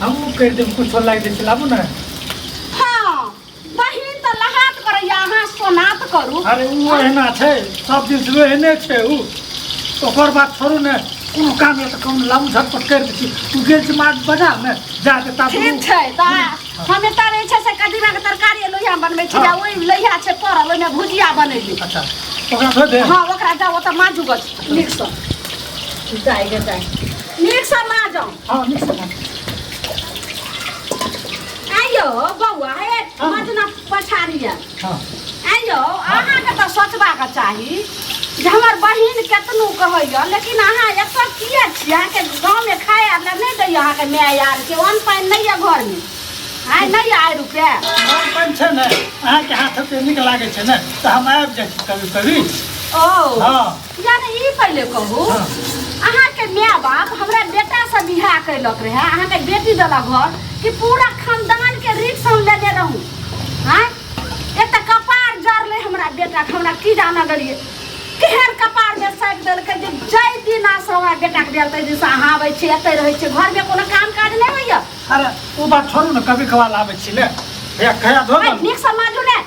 हमहूँ कहि देब किछो लागि दै छै लाबू ने हाँ बहिन तऽ लहात करैया अहाँ सोनात करू अरे ओ एहना छै सब दिन से एहने छै ओ ओकर बात छोड़ू ने कोनो काम यऽ तऽ कम लाबू झटपट करि दै छी तू गेल छी मार्ट बाजार ने जा के ता ठीक छै तऽ हम एतऽ रहै छै से कदीमा के तरकारी आ लोहिया बनबै छी हाँ। आ ओहि लोहिया छै पड़ल ओहिमे भुजिया बनेली अच्छा ओकरा धो दे हाँ ओकरा जाओ ओतऽ माजू गछ नीकसँ जाए गे जाए नीकसँ माजू हाँ मिक्स कर आइयो बौआ हे हाँ। मजना पछाड़िया हाँ आइयो अहाँके तऽ सोचबाक चाही जे हमर बहिन केतनो कहैया लेकिन अहाँ एतऽ किए छी अहाँके गाँवमे खाए आर लए नहि दैया अहाँके माय आरके अन्न पानि नहि यऽ घरमे आइ नहि यऽ आइ रुपैआ मन पान छै ने अहाँके हाथ पे नीक लागै छै ने तऽ हम आबि जाइ छी कभी कभी ओ हाँ जाने ई पहिले कहू अहाँके माय बाप हमरा बेटा से बियाह कैलक रहे अहाँके बेटी देलक घर कि पूरा खानदान के रिक्स हम लेने रहूं हाँ एते कपार जरले हमरा बेटा के हमरा की जाना गलिए केहन कपार में साटि देलकै जे जय दिन आ से हमरा बेटा के बियाह तै दिन से अहाँ आबै छी एतै रहै छी घर में कोनो काम काज नहि होइए अरे ओ बात छोड़ू ने कभी कभार आबै छी ले भैया खया धो आ दल नीक से माजू ने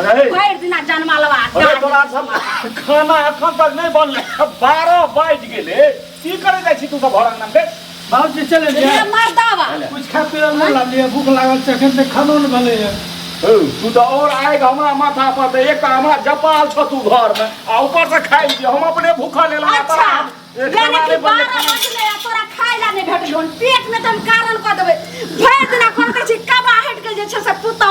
अरे भरि दिना जनमा लबा अरे तोरा सब खाना एखन तक नहीं बनले बारह बाज गेले की करे जाइ छी तू सब भरन नाम के बाबू जी चले रे जाए मर्दावा कुछ खा पी नहीं लालिए भूख लागल छै एखन तक खानो नहि भेलै है ओ, तू तो और आएगा हमरा माथा पर ते एक हमरा जपाल छ तू घर में आ ऊपर से खाई जे हम अपने भूखा ले ला अच्छा यानी कि बारह बजले आ तोरा खाय ला नहि भेटल हन पेट में तऽ हम कारण कऽ देबै भरि दिना कोन कहै छी कबा हटि गेल जे छै से पुतौ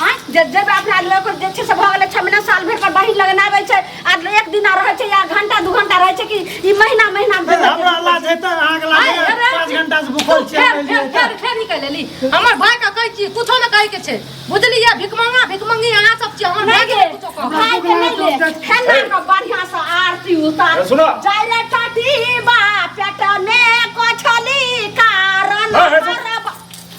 हाँ जे जे अपना लोग को जे छै से भऽ गेलै छः महीना साल भर पर बहिन लगन आबै छै आ एक दिन रहै छै या घंटा दू घंटा रहै छै कि ई महीना महीना फेर हमरा लाज हेतै अहाँके लाज आय, हेतै? अरे। पाँच घंटा से भूखल छियै फेर फेर एलियै फेर फेर निकल एली हमर भाई के कहै छी कुछो न कहै के छै बुझलियै भिकमंगा भिकमंगी अहाँ सब छी हमर भाई के कुछो कहब खाय के नहि ले खाना के बढ़िया से आरती उतार ए, सुनो। जाइले टाटी बा पेट में कोछली कारण है, है, सुन।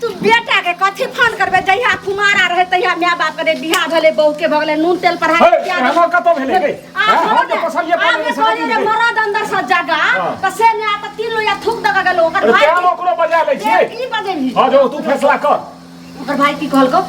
तू बेटा के कथी फोन करबे जहिया कुमारा रहे तहिया माय बाप करे बियाह भेले बहू के भगले नून तेल पढ़ाई हे, बियाह भेलै। हमर कतऽ भेलै रे? आ, हँ, हम छोड़े। जे पसलियै आ, पानि जे से कहलियै कथी जे भेलै? मरद अंदर से जगा हँ। त से ने आ त तीन लोया थूक दगा गेलो ओकर अरे भाई तेल ओकरो बजा लै छी की बजेली हँ जो तू फैसला कर ओकर भाई की कहलको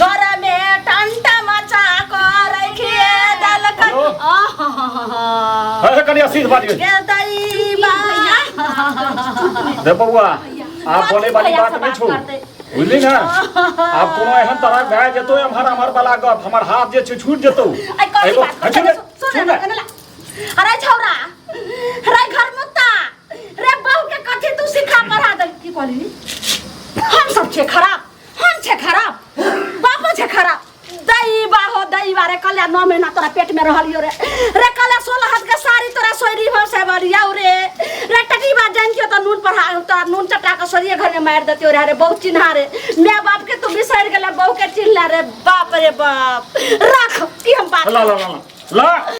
गरमे टंटा मचा क रखिए दलकन आहा अरे कनी असीस बाज गई के दैबा रे बबुआ आप बोले वाली बात में छू बुझली ना आप कोनो एहन तरह भए जेतो एम्हर हमर वाला गप हमर हाथ जे छै छूट जेतो आई कौन एगो बात हटू करते ने, सुन सुन ना, कनला अरे छौरा अरे घर मुत्ता रे बहू के कथी तू सिखा पढ़ा दे की कहली हम सब छे खराब हम छे खराब बापो छे खराब दई बाहो दई बारे कल्या नौ महीना तोरा पेट में रहलियो रे रे कल्या सोलह हाथ के साड़ी तोरा सोरी हो से बरिया रे रे टटी बात जान के तो नून पर हा- तोरा नून चटा के सोरिए घर में मार देतियो रे अरे बहुत चिन्हा रे मैं बाप के तू बिसर गेला बहू के चिन्हला रे बाप रे बाप रख ई हम बात ला ला ला ला ला